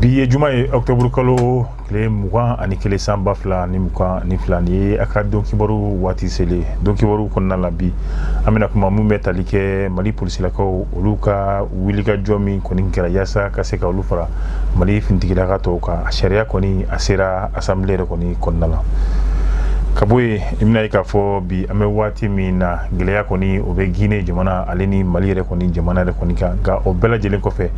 bi ye juma ye octobre kalo tile mugan ani kelen san ba fila ni mugan ni fila nin ye a ka don kibaru waati selen don kibaru kɔnɔna la bi an bɛna kuma min bɛ tali kɛ mali polisilakaw olu ka wulikajɔ min kɔni kɛra yaasa ka se ka olu fara mali finitigilaka tɔw kan a sariya kɔni a sera asanbile yɛrɛ kɔni kɔnɔna la ka bɔ yen i bɛna ye k'a fɔ bi an bɛ waati min na gɛlɛya kɔni o bɛ gine jamana ale ni mali yɛrɛ kɔni jamana yɛrɛ kɔni kan nka o bɛɛ lajɛlen kɔfɛ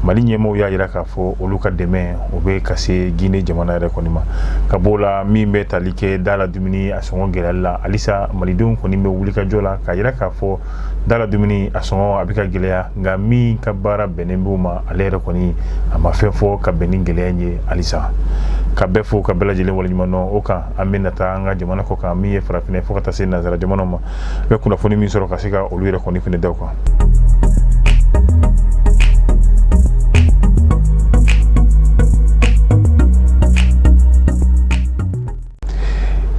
mali ɲɛmɔgɔw y'a jira k'a fɔ olu ka dɛmɛ o bɛ ka se gine jamana yɛrɛ kɔni ma ka b'o la min bɛ tali kɛ da la dumuni a sɔngɔ gɛlɛyali la halisa malidenw kɔni bɛ wulikajɔ la k'a jira k'a fɔ da la dumuni a sɔngɔ a bɛ ka gɛlɛya nka min ka baara bɛnnen b'o ma ale yɛrɛ kɔni a ma fɛn fɔ ka bɛn ni gɛlɛya in ye halisa ka bɛɛ fo ka bɛɛ lajɛlen waleɲuman dɔn o kan an bɛna taa an ka jamana kɔ kan min ye farafinɛ fo ka taa se nanzara jamanaw ma an bɛ kunnafoni min sɔrɔ ka se ka olu yɛrɛ kɔni fɛnɛ da kan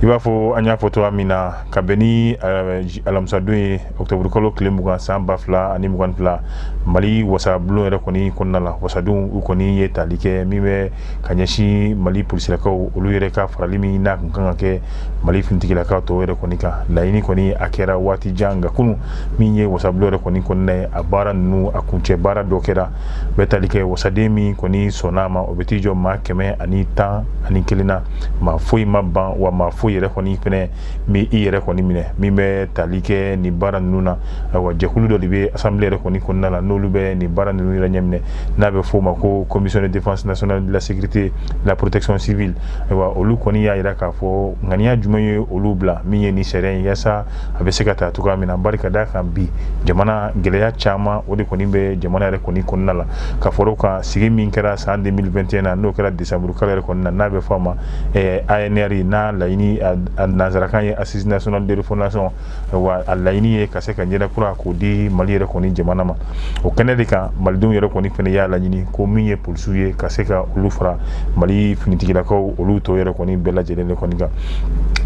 i b'a fɔ an y'a fɔ cogoya min na ka bɛn ni eh, alamisadon ye ɔkutɔburukalo tile mugan san ba fila ani mugan fila mali wasabulon yɛrɛ kɔni kɔnɔna la wasadenw kɔni ye tali kɛ min bɛ ka ɲɛsin mali polisilakaw olu yɛrɛ ka farali min n'a tun kan ka kɛ mali finitigilakaw tɔw yɛrɛ kɔni kan laɲini kɔni a kɛra waati jan nka kunun min ye wasabulon yɛrɛ kɔni kɔnɔna ye a baara ninnu a kuncɛ baara dɔ kɛra bɛ tali kɛ wasaden min kɔni sɔnn'a ma o bɛ t'i jɔ maa kɛmɛ ani tan ani kelen na maa foyi ma ban wa maa foyi yɛrɛ kɔni fana m'i yɛrɛ kɔni minɛ min bɛ tali kɛ nin baara ninnu na ayiwa jɛkulu dɔ de bɛ asanbile yɛrɛ kɔni kɔnɔna la n'olu bɛ nin baara ninnu yɛrɛ ɲɛminɛ n'a bɛ f'o ma ko commission de défense nationale de la sécurité de la protection civile ayiwa olu kɔni y'a jira k'a fɔ ŋaniya jumɛn ye olu bila min ye nin sariya in yaasa a bɛ se ka ta cogoya min na bari ka d'a kan bi jamana gɛlɛya caman o de kɔni bɛ jamana yɛrɛ kɔni kɔnɔna la ka far'o kan sigi min kɛra san 2021 na n'o kɛra décembre kalo yɛrɛ kɔnɔna n'a bɛ fɔ a ma ANR n'a laɲini a nanzarakan ye assise nationale de refondation wa a laɲini ye ka se ka ɲɛda kura k'o di mali yɛrɛ kɔni jamana ma o kɛnɛ de kan malidenw yɛrɛ kɔni fana y'a laɲini ko min ye polisiw ye ka se ka olu fara mali finitigilakaw olu tɔw yɛrɛ kɔni bɛɛ lajɛlen de kɔni kan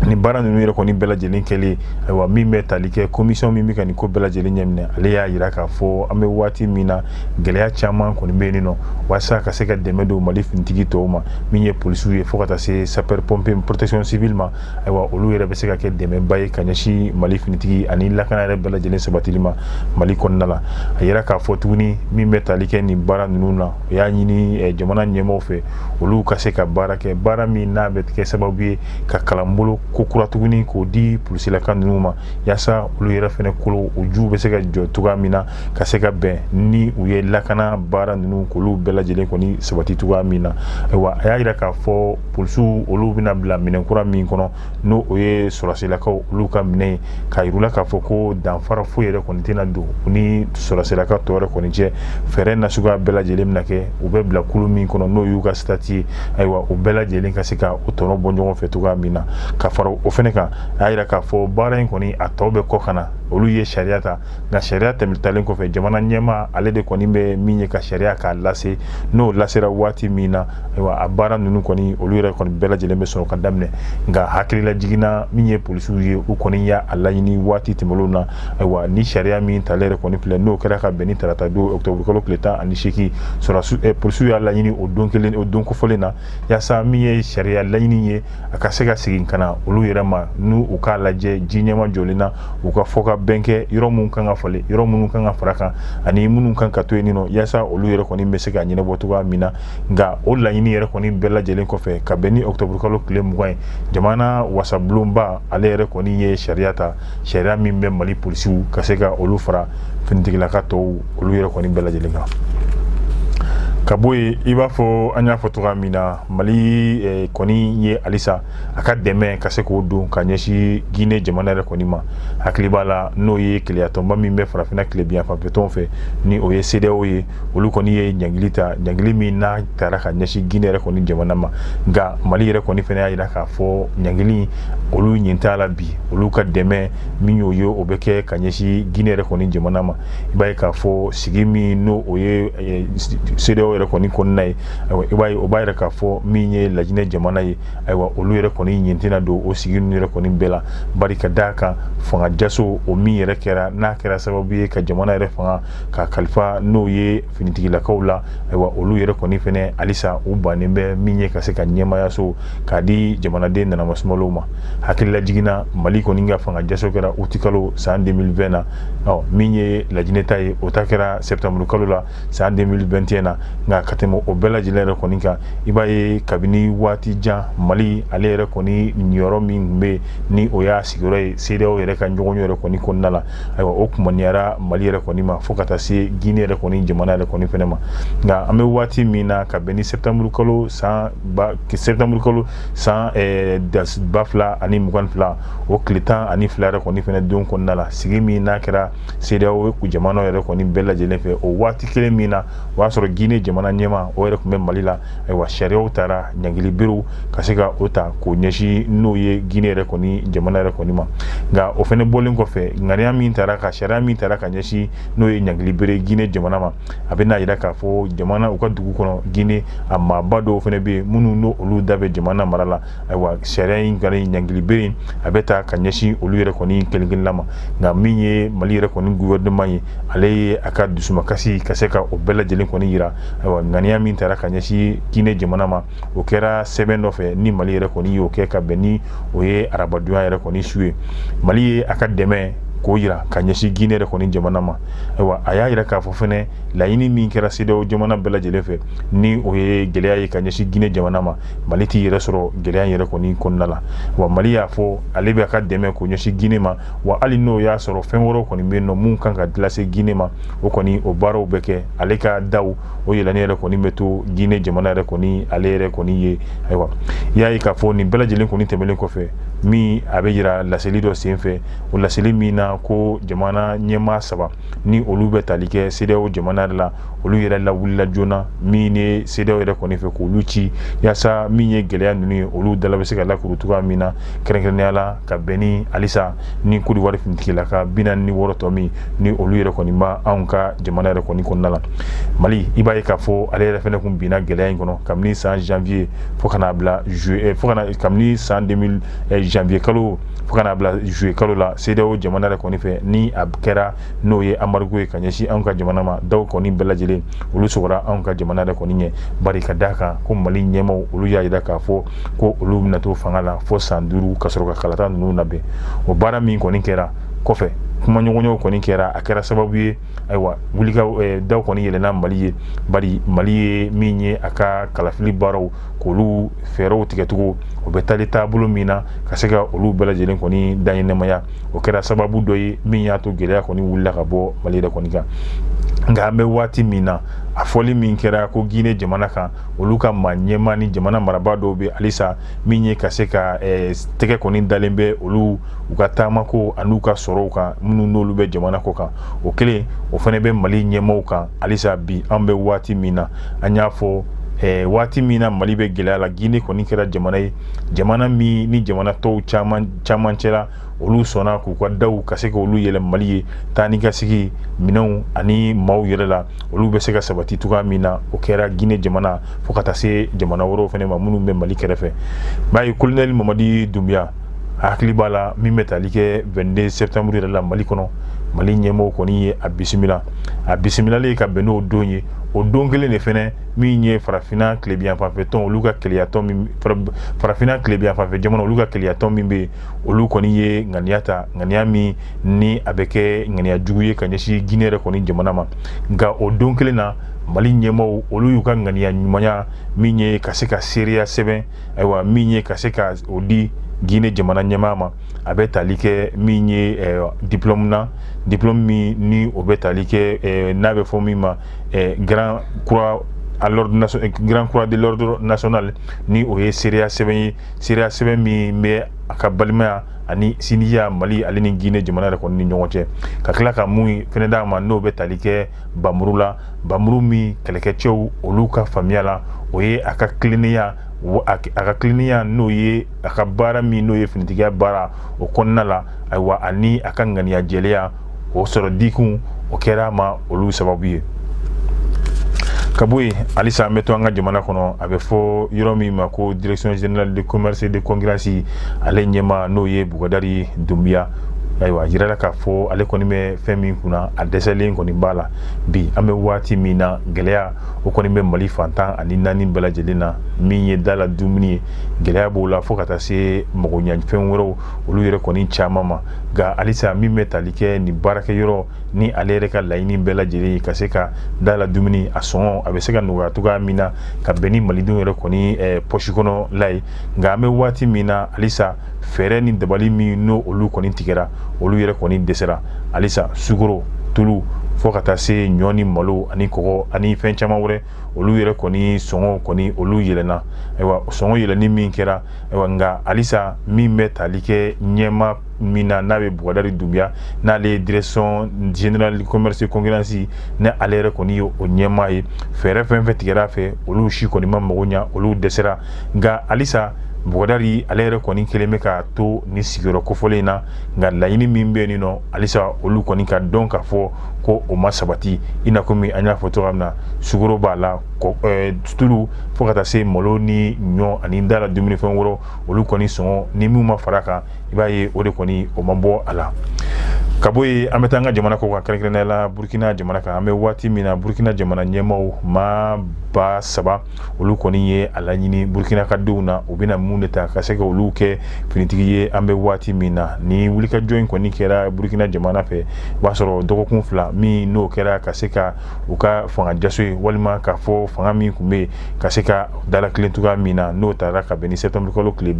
nin baara ninnu yɛrɛ kɔni bɛɛ lajɛlen kɛlen ayiwa min bɛ tali kɛ commission min bɛ ka nin ko bɛɛ lajɛlen ɲɛminɛ ale y'a jira k'a fɔ an bɛ waati min na gɛlɛya caman kɔni bɛ yen nɔ walasa ka se ka dɛmɛ don mali finitigi tɔw ma min ye polisiw ye fo ka taa se sapeur pompier protection civile ma ayiwa olu yɛrɛ bɛ se ka kɛ dɛmɛba ye ka ɲɛsin mali finitigi ani lakana yɛrɛ bɛɛ lajɛlen sabatili ma mali kɔnɔna la a yira k'a fɔ tuguni min bɛ tali kɛ nin baara ninnu na o y'a ɲini eh, jamana ɲɛmɔgɔw fɛ olu ka se ka baara kɛ baara min n'a bɛ kɛ sababu ye ka kalanbolo ko kura tuguni k'o di polisilaka ninnu ma yaasa olu yɛrɛ fana kolo u juw bɛ se ka jɔ cogoya min na ka se ka bɛn ni u ye lakana baara ninnu k'olu bɛɛ lajɛlen kɔni sabati cogoya min na ayiwa a y'a jira k'a fɔ polisiw olu bɛna bila minɛn kura min kɔnɔ n'o o ye sɔrɔdasilakaw olu ka minɛn ye k'a yir'u la k'a fɔ ko danfara foyi yɛrɛ kɔni tɛna don u ni sɔrɔdasilaka tɔw yɛrɛ kɔni cɛ fɛɛrɛ nasuguya bɛɛ lajɛlen bɛna kɛ u bɛ bila kulu min kɔnɔ n'o y'u ka sitati ye ayiwa u bɛɛ lajɛlen ka se ka o tɔnɔ bɔ ɲɔgɔn fɛ cogoya min na ka fara o fɛnɛ kan a y'a yira k'a fɔ baara in kɔni a tɔ bɛ kɔ ka na olu ye sariya ta nka sariya tɛmɛ talen kɔfɛ jamana ɲɛmaa ale de kɔni bɛ min ye ka sariya k'a lase n'o lasera waati min na ayiwa a baara ninnu kɔni olu yɛrɛ kɔni bɛɛ lajɛlen bɛ sɔrɔ ka daminɛ nka hakililajigin na min ye polisiw ye u kɔni y'a laɲini waati tɛmɛnlenw na ayiwa ni sariya min talen yɛrɛ kɔni filɛ n'o kɛra ka bɛn ni tarata don octobre kalo tile tan ani seegin sɔrɔdasiw eh, polisiw y'a laɲini o don kelen o don kofɔlen na yaasa min ye sariya laɲini ye a ka se ka segin ka na olu yɛrɛ ma n'u u k'a lajɛ ji ɲɛmajɔlen na u ka fɔkabɛn kɛ yɔrɔ minnu kan ka falen yɔrɔ minnu kan ka fara kan ani minnu kan ka to yen nɔ yaasa olu yɛrɛ kɔni bɛ se ka ɲɛnabɔ cogoya min na nka o laɲini yɛrɛ kɔni bɛɛ lajɛlen kɔfɛ ka bɛn ni octobre kalo tile mugan ye jamana wasabulonba ale yɛrɛ kɔni ye sariya ta sariya min bɛ mali polisiw ka se ka olu fara finitigilaka tɔw olu yɛrɛ kɔni bɛɛ lajɛlen kan ka bɔ yen i b'a fɔ an y'a fɔ cogoya min na mali eh, kɔni ye halisa a ka dɛmɛ ka se k'o don ka ɲɛsin Guinée jamana yɛrɛ kɔni ma hakili b'a la n'o ye kelenyatɔnba min bɛ farafinna tilebinyanfanfɛ tɔnw fɛ ni o ye CEDEAO ye olu kɔni ye ɲangili ta ɲangili min n'a taara ka ɲɛsin Guinée yɛrɛ kɔni jamana ma nka Mali yɛrɛ kɔni fana y'a jira k'a fɔ ɲangili olu ɲin t'a la bi olu ka dɛmɛ min y'o ye o bɛ kɛ ka ɲɛsin Guinée yɛrɛ kɔni jamana ma i b'a ye k'a fɔ sigi min n'o o ye eh, CEDEAO yɛrɛ kɔni kɔnɔna ye ayiwa i b'a ye o b'a yira k'a fɔ min ye lajinɛ jamana ye ayiwa olu yɛrɛ kɔni ɲin tɛna don o sigi ninnu yɛrɛ kɔni bɛɛ la bari ka d'a kan fanga jaso o min yɛrɛ kɛra n'a kɛra sababu ye ka jamana yɛrɛ fanga k'a kalifa n'o ye finitigilakaw la ayiwa olu yɛrɛ kɔni fɛnɛ halisa u bannen bɛ min ye ka se ka ɲɛmaayaso k'a di jamanaden nanama sumalow ma hakililajigin na mali kɔni ka fanga jaso kɛra uti kalo san 2020 na ɔ min ye lajinɛ ta ye o ta kɛra sɛptanburu kalo la san 2021 na nka ka tɛmɛ o bɛɛ lajɛlen yɛrɛ kɔni kan i b'a ye kabini waati jan mali ale yɛrɛ kɔni niyɔrɔ min tun bɛ ni o y'a sigiyɔrɔ ye CEDEAO yɛrɛ ka ɲɔgɔnye yɛrɛ kɔni kɔnɔna la ayiwa o kumaniyara mali yɛrɛ kɔni ma fo ka taa se gine yɛrɛ kɔni jamana yɛrɛ kɔni fɛnɛ ma nka an bɛ waati min na ka bɛn ni septembre kalo san ba septembre kalo san eh, ba fila ani mugan fila o tile tan ani fila yɛrɛ kɔni fɛnɛ don kɔnɔna la sigi min n'a kɛra sedeyawo jamana yɛrɛ kɔni bɛɛ lajɛlen fɛ o waati kelen min na o y'a sɔrɔ gine jamana ɲɛmaa o yɛrɛ tun bɛ mali la ayiwa sariyaw tara ɲangili berew ka se ka o ta k'o ɲɛsin n'o ye guinee yɛrɛ kɔni jamana yɛrɛ kɔni ma nka o fɛnɛ bɔlen kɔfɛ ŋaniya min tara ka sariya min tara ka ɲɛsin n'o ye ɲangili bere guinee jamana ma a bɛn'a yira k'a fɔ jamana u ka dugu kɔnɔ guinee a maaba dɔw fɛnɛ bɛ yen minnu n'o olu da bɛ jamana mara la ayiwa sariya in kɔni ɲangili bere in a bɛ ta ka ɲɛsin olu yɛrɛ kɔni kelenkelenna ma nka min ye mali yɛrɛ kɔni gouvernement ye ale ye a ka dusumakasi ka se ka o bɛɛ lajɛlen kɔni yira ayiwa ŋaniya min tara ka ɲɛsin guinee jamana ma o kɛra sɛbɛn dɔ fɛ ni mali yɛrɛ kɔni y'o kɛ ka bɛn ni o ye arabadonya yɛrɛ kɔni su ye mali ye a ka dɛmɛ k'o yira ka ɲɛsin guinee yɛrɛ kɔni jamana ma ayiwa a y'a yira k'a fɔ fɛnɛ laɲini min kɛra sedeyawo jamana bɛɛ lajɛlen fɛ ni o ye gɛlɛya ye ka ɲɛsin guinee jamana ma mali t'i yɛrɛ sɔrɔ gɛlɛya yɛrɛ kɔni kɔnɔna la wa mali y'a fɔ ale bɛ a ka dɛmɛ k'o ɲɛsin gine ma wa hali n'o y'a sɔrɔ fɛn wɛrɛ kɔni bɛ nɔ minnu kan ka lase gine ma o kɔni o baaraw bɛ kɛ ale ka daw o yɛlɛnen yɛrɛ kɔni bɛ to gine jamana yɛrɛ kɔni ale yɛrɛ kɔni ye ayiwa i y'a ye k'a fɔ nin bɛɛ lajɛlen kɔni tɛmɛnen kɔfɛ min a bɛ yira laseli dɔ senfɛ o laseli min na ko jamana ɲɛmaa saba ni olu bɛ tali kɛ sedeyawo jamana yɛrɛ la olu yɛrɛ lawulila joona min ye sedeyawo yɛrɛ kɔni fɛ k'olu ci yaasa min ye gɛlɛya ninnu ye olu dala bɛ se ka lakuru cogoya min na kɛrɛnkɛrɛnnenya la ka bɛn ni halisa ni kodiwari finitigilaka bi naani ni wɔɔrɔ tɔ min ni olu yɛrɛ kɔni bɛ anw ka jamana yɛrɛ kɔni kɔnɔna la mali i b'a ye k'a fɔ ale yɛrɛ fɛnɛ kun binna gɛlɛya in kɔnɔ kabini san janvier fo ka n'a bila juillet eh, fo ka na kabini san 2000 eh, janvier kalo fo ka n'a bila juillet kalo la sedeyawo jamana yɛrɛ kɔni fɛ ni a kɛra n'o ye embargo ye ka ɲɛsin anw ka jamana ma daw kɔni bɛɛ lajɛlen olu sɔgɔra anw ka jamana yɛrɛ kɔni ɲɛ bari ka d'a kan ko mali ɲɛmaw olu y'a yira k'a fɔ ko olu bɛna to fanga la fo san duuru ka sɔrɔ ka kalata ninnu labɛn o baara min kɔni kɛra kɔfɛ kumaɲɔgɔnyaw kɔni kɛra a kɛra sababu ye ayiwa wulika eh, daw kɔni yɛlɛna mali ye bari mali ye min ye a ka kalafili baaraw k'olu fɛɛrɛw tigɛcogo o bɛ taali taabolo min na ka se ka olu bɛɛ lajɛlen kɔni daɲɛnɛmaya o kɛra sababu dɔ ye min y'a to gɛlɛya kɔni wulila ka bɔ mali yɛrɛ kɔni kan nka an bɛ waati min na a fɔli min kɛra ko gine jamana kan olu ka maa ɲɛmaa ni jamana marabaa dɔw bɛ halisa min ye ka se ka eh, tɛgɛ kɔni dalen bɛ olu u ka taamako an'u ka sɔrɔw kan minnu n'olu bɛ jamana kɔ kan o kelen o fɛnɛ bɛ mali ɲɛmaw kan halisa bi an bɛ waati min na an y'a fɔ eh, waati min na mali bɛ gɛlɛya la gine kɔni kɛra jamana ye jamana min ni jamana tɔw caman caman cɛla olu sɔnna k'u ka daw ka se k'olu yɛlɛ mali ye taa ni ka segin minɛnw ani maaw yɛrɛ la olu bɛ se ka sabati cogoya min na o kɛra gine jamana fo ka taa se jamana wɛrɛw fana ma minnu bɛ mali kɛrɛfɛ b'a ye kolonɛli mamadi dunbuya a hakili b'a la min bɛ tali kɛ 22 septembre yɛrɛ la mali kɔnɔ mali ɲɛmɔgɔ kɔni ye a bisimila a bisimilalen ka bɛn n'o don ye o don kelen de fɛnɛ min ye farafinna tilebinyanfanfɛtɔn olu ka kelenyatɔn min farafinna tilebinyanfanfɛ jamana olu ka kelenyatɔn min bɛ yen olu kɔni ye ŋaniya ta ŋaniya min ni a bɛ kɛ ŋaniya jugu ye ka ɲɛsin gine yɛrɛ kɔni jamana ma nka o don kelen na mali ɲɛmɔgɔw olu y'u ka ŋaniya ɲumanya min ye ka se ka seereya sɛbɛn ayiwa min ye ka se ka o di gine jamana ɲɛmaa ma a bɛ tali kɛ min ye eh, diplɔmu na diplɔmu min ni o bɛ tali kɛ eh, n'a bɛ fɔ min ma grand grand croix de l'ordre national ni o ye seereya sɛbɛn ye seereya sɛbɛn min bɛ a ka balimaya ani sinjiya mali ale ni gine jamana yɛrɛ kɔni ni ɲɔgɔn cɛ ka tila ka mun fɛnɛ d'a ma n'o bɛ tali kɛ npanmuru la npanmuru min kɛlɛkɛcɛw olu ka faamuya la o ye a ka tilennenya a ka tilennenya n'o ye a ka baara min n'o ye finitigiya baara o kɔnɔna la ayiwa ani a ka ŋaniya jɛlenya o sɔrɔ dikun o kɛra a ma olu sababu ye ka bɔ yen halisa an bɛ to an ka jamana kɔnɔ a bɛ fɔ yɔrɔ min ma ko direction générale de commerce de concurrence ale ɲɛmaa n'o ye bugadari dunbiya ayiwa a jirala k'a fɔ ale kɔni bɛ fɛn min kunna a dɛsɛlen kɔni b'a la bi an bɛ waati min na gɛlɛya o kɔni bɛ mali fan tan ani naani bɛɛ lajɛlen na min ye da la dumuni ye gɛlɛya b'o la fo ka taa se magoɲɛfɛn wɛrɛw olu yɛrɛ kɔni caman ma nka halisa min bɛ tali kɛ nin baarakɛyɔrɔ ni ale yɛrɛ ka laɲini bɛɛ lajɛlen ye ka se ka da la dumuni a sɔngɔ a bɛ se ka nɔgɔya cogoya min na ka bɛn ni malidenw yɛrɛ kɔni eh, pɔsi kɔnɔla ye nka an bɛ waati min na halisa fɛɛrɛ ni dabali minnu olu kɔni tigɛra olu yɛrɛ kɔni dɛsɛra halisa sukoro tulu fo ka taa se ɲɔ ni malo ani kɔgɔ ani fɛn caman wɛrɛ olu yɛrɛ kɔni sɔngɔ kɔni olu yɛlɛna ayiwa sɔngɔ yɛlɛni min kɛra ayiwa nka halisa min bɛ tali kɛ ɲɛmaa min na n'a bɛ bugadari dunbiya n'ale ye direction générale commerce de concurrence ni ale yɛrɛ kɔni ye o ɲɛmaa ye fɛɛrɛ fɛn o fɛn tigɛra fɛ olu si kɔni ma mago ɲa olu dɛsɛra nka halisa bugadari ale yɛrɛ kɔni kelen bɛ ka to nin sigiyɔrɔ kofɔlen in na nka laɲini min bɛ yen nɔ halisa olu kɔni k'a dɔn k'a fɔ ko o ma sabati i n'a komi an y'a fɔ cogoya min na sukoro b'a la eh, tulu fo ka taa se malo ni ɲɔ ani da la dumunifɛn wɛrɛ olu kɔni sɔngɔ ni min ma fara kan i b'a ye o de kɔni o ma bɔ a la ka bɔ yen an bɛ taa an ka jamana kɔ kan kɛrɛnkɛrɛnnenya la burukina jamana kan an bɛ waati min na burukina jamana ɲɛmaaw maaba saba olu kɔni ye a laɲini burukinakadenw na u bɛna mun de ta ka se ka olu kɛ finitigi ye an bɛ waati min na ni wulikajɔ in kɔni kɛra burukina jamana fɛ o b'a sɔrɔ dɔgɔkun fila min n'o kɛra ka se ka u ka fanga jaso ye walima k'a fɔ fanga min tun bɛ ka se ka dalakilen cogoya min na n'o taara ka bɛn ni sɛtanburukalo tile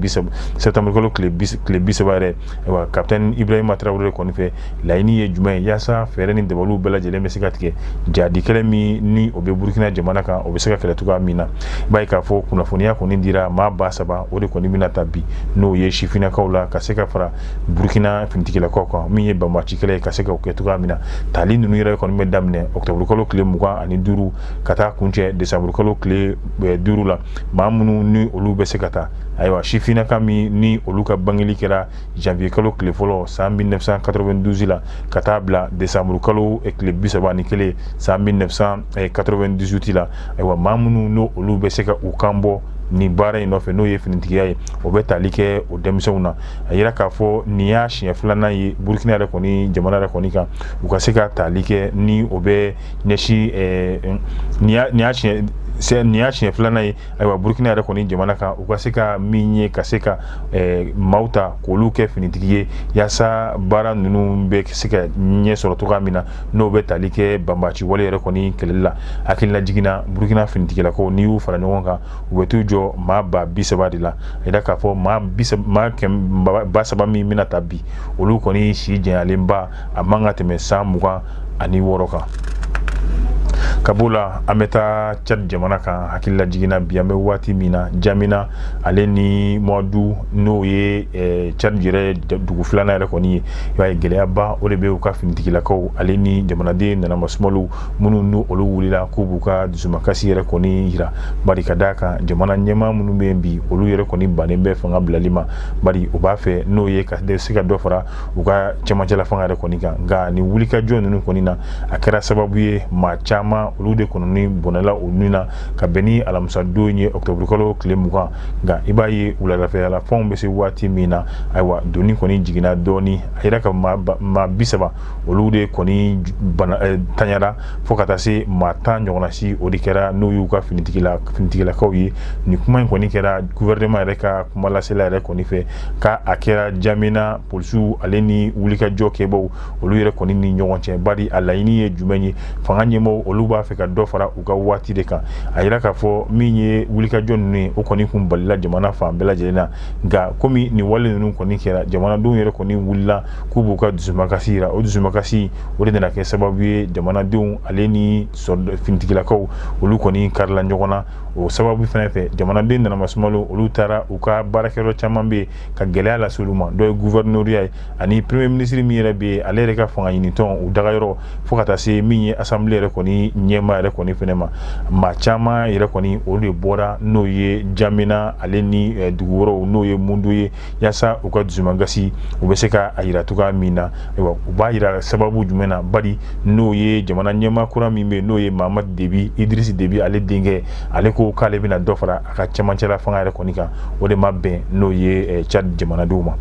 bisaba yɛrɛ ayiwa kapitɛni ibrahima tarawele kɔni fɛ laɲini ye jumɛn ye yaasa fɛɛrɛ ni dabaliw bɛɛ lajɛlen bɛ se ka tigɛ jadi kɛlɛ min ni o bɛ burukina jamana kan o bɛ se ka kɛlɛ cogoya min na i b'a ye k'a fɔ kunnafoniya kɔni dira maa ba saba o de kɔni bɛna ta bi n'o ye sifinnakaw la ka se ka fara burukina finitigilakaw kan min ye banbaci kɛlɛ ye ka se ka o kɛ cogoya min na tali ninnu yɛrɛ kɔni bɛ daminɛ ɔkutɔburukalo tile mugan ani duuru ka taa kuncɛ desanburukalo tile eh, duuru la maa minnu ni olu bɛ se ka taa ayiwa sifinnaka min ni olu ka bangeli kɛra janvier kalo tile fɔlɔ san 1992 la ka taa bila décembre kalo eh, tile bi saba ni kelen san 1998 la ayiwa maa minnu n'o olu bɛ se ka u kan bɔ nin baara in nɔfɛ n'o ye finitigiya ye o bɛ tali kɛ o denmisɛnw na a yira k'a fɔ nin y'a siɲɛ filanan ye burukina yɛrɛ kɔni jamana yɛrɛ kɔni kan u ka se ka tali kɛ ni o bɛ ɲɛsin eh, nin y'a siɲɛ nin y'a siɲɛ filanan ye ayiwa burukina yɛrɛ kɔni jamana kan u ka se ka min ye ka se ka eh, maaw ta k'olu kɛ finitigi ye yaasa baara ninnu bɛ se ka ɲɛ sɔrɔ cogoya min na n'o bɛ tali kɛ banbaci wale yɛrɛ kɔni kɛlɛli la hakililajigin na burukina finitigilakaw n'i y'u fara ɲɔgɔn kan u bɛ t'u jɔ maa ba bi saba de la a yira k'a fɔ maa ba saba min bɛna ta bi olu kɔni si janyalenba a man ka tɛmɛ san mugan ani wɔɔrɔ kan ka b'o la an bɛ taa cadi jamana kan hakililajigin na bi an bɛ waati min na jamina ale ni mundu n'o ye eh, cadi yɛrɛ dugu filanan yɛrɛ kɔni ye i b'a ye gɛlɛyaba o de bɛ u ka finitigilakaw ale ni jamanaden nanama sumaliw minnu ni olu wulila k'u b'u ka dusumakasi yɛrɛ kɔni yira bari ka d'a kan jamana ɲɛmaa minnu bɛ yen bi olu yɛrɛ kɔni bannen bɛ fanga bilali ma bari u b'a fɛ n'o ye ka se ka dɔ fara u ka cɛmancɛla fanga yɛrɛ kɔni kan nka nin wulikajɔ ninnu kɔni na a kɛra sababu ye maa caman olu de kɔnɔni bɔnɛla u nin na ka bɛn ni alamisadon ye ɔkutɔburukalo tile mugan nka i b'a ye wuladafɛla fan bɛ se waati min na ayiwa doni kɔni jiginna dɔɔni a yira ka maa bi saba olu de kɔni eh, tanyara fo ka taa se maa tan ɲɔgɔnna si o de kɛra n'o y'u ka finitigilakaw ye nin kuma in kɔni kɛra guvɛrɛnɛma yɛrɛ ka kumalasela yɛrɛ kɔni fɛ ka a kɛra jamina polisiw ale ni wulikajɔ kɛbaw olu yɛrɛ kɔni ni ɲɔgɔn cɛ bari a laɲini ye jumɛn ye fanga ɲɛmaaw olu b'a fɛ ka dɔ fara u ka waati de kan a yira k'a fɔ min ye wulikajɔ ninnu ye o kɔni kun balila jamana fan bɛɛ lajɛlen na nka komi nin wale ninnu kɔni kɛra jamanadenw yɛrɛ kɔni wulila k'u b'u ka dusumakasi yira o dusumakasi o de nana kɛ sababu ye jamanadenw ale ni finitigilakaw olu kɔni karila ɲɔgɔn na o sababu fana fɛ jamanaden nana masumalo olu taara u ka baarakɛyɔrɔ caman bɛ yen ka gɛlɛya lase olu ma dɔ ye gouverneuriya ye ani premier ministre min yɛrɛ bɛ yen ale yɛrɛ ka fanga ɲinitɔn u dagayɔrɔ fo ka taa se min ye assemblée yɛrɛ kɔni ɲɛma yɛrɛ kɔni fɛnɛ ma maa caman yɛrɛ kɔni olu de bɔra n'o ye jamina ale ni dugu wɛrɛw n'o ye mundu ye yasa u ka dusumangasi u bɛ se ka a yira cogoya min na ayiwa u b'a yira sababu jumɛn na bari n'o ye jamana ɲɛma kura min bɛ n'o ye mahamadu debi idirisi debi ale denkɛ ale ko k'ale bɛna dɔ fara a ka cɛmancɛla fanga yɛrɛ kɔni kan o de ma bɛn n'o ye cad jamanadenw ma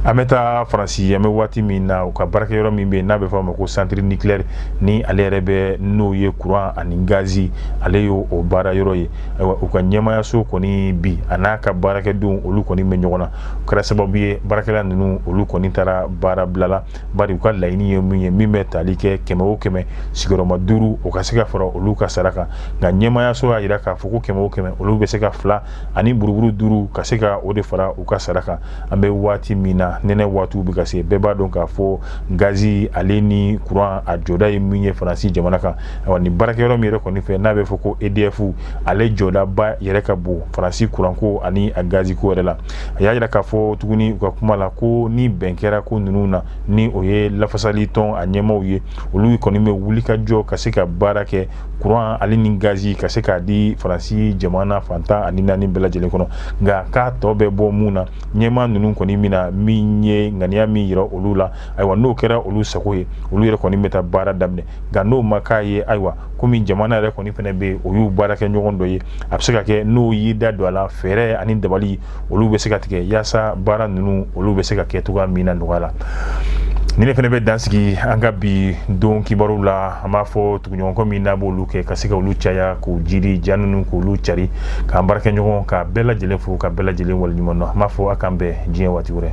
an bɛ taa faransi an bɛ waati min na u ka baarakɛyɔrɔ min bɛ n'a bɛ fɔ a ma ko centre nucléaire ni ale yɛrɛ bɛ n'o ye kuran ani gazi ale ye o baara yɔrɔ ye ayiwa u ka ɲɛmayaso kɔni bi a n'a ka baarakɛdenw olu kɔni bɛ ɲɔgɔn na o kɛra sababu ye baarakɛla ninnu olu kɔni taara baarabila la bari u ka laɲini ye min ye min bɛ tali kɛ kɛmɛ o kɛmɛ sigiyɔrɔma duuru o ka se ka fara olu ka sara kan nka ɲɛmayaso y'a yira k'a fɔ ko kɛmɛ o kɛmɛ olu bɛ se ka fila ani buruburu duuru ka se ka o de fara u ka sara kan an bɛ waati min na nɛnɛ waatiw bɛ ka se bɛɛ b'a dɔn k'a fɔ gazi ale ni kuran a jɔda ye min ye faransi jamana kan awa ni baarakɛyɔrɔ min yɛrɛ kɔni fɛ n'a bɛ fɔ ko edf ale jɔdaba yɛrɛ ka bon faransi kuranko ani a gaziko yɛrɛ la a y'a yira k'a fɔ tuguni u ka kuma la ko ni bɛn kɛra ko ninnu na ni o ye lafasali tɔn a ɲɛmaw ye olu kɔni bɛ wuli ka jɔ ka se ka baara kɛ kuran ale ni gazi ka se k'a di faransi jamana fan tan ani naani bɛɛ lajɛlen kɔnɔ nka k'a tɔ bɛ bɔ mun na ɲɛma ninnu kɔni mana min ye ŋaniya min yira olu la ayiwa n'o kɛra olu sago ye olu yɛrɛ kɔni bɛ taa baara daminɛ nka n'o ma k'a ye ayiwa komi jamana yɛrɛ kɔni fɛnɛ bɛ yen o y'u baarakɛɲɔgɔn dɔ ye a bɛ se ka kɛ n'o y'i da don a la fɛɛrɛ ani dabali olu bɛ se ka tigɛ yaasa baara ninnu olu bɛ se ka kɛ cogoya min na nɔgɔya la ni ne fɛnɛ bɛ dansigi an ka bi don kibaru la an b'a fɔ ɲɔgɔnkɔ min n'a b'olu kɛ ka se ka olu caya k'u jiri ja ninnu k'olu cari k'an baarakɛɲɔgɔn ka bɛɛ lajɛlen fo ka bɛɛ lajɛlen waleɲuman dɔn an b'a fɔ a k'an bɛn diɲɛ waati wɛrɛ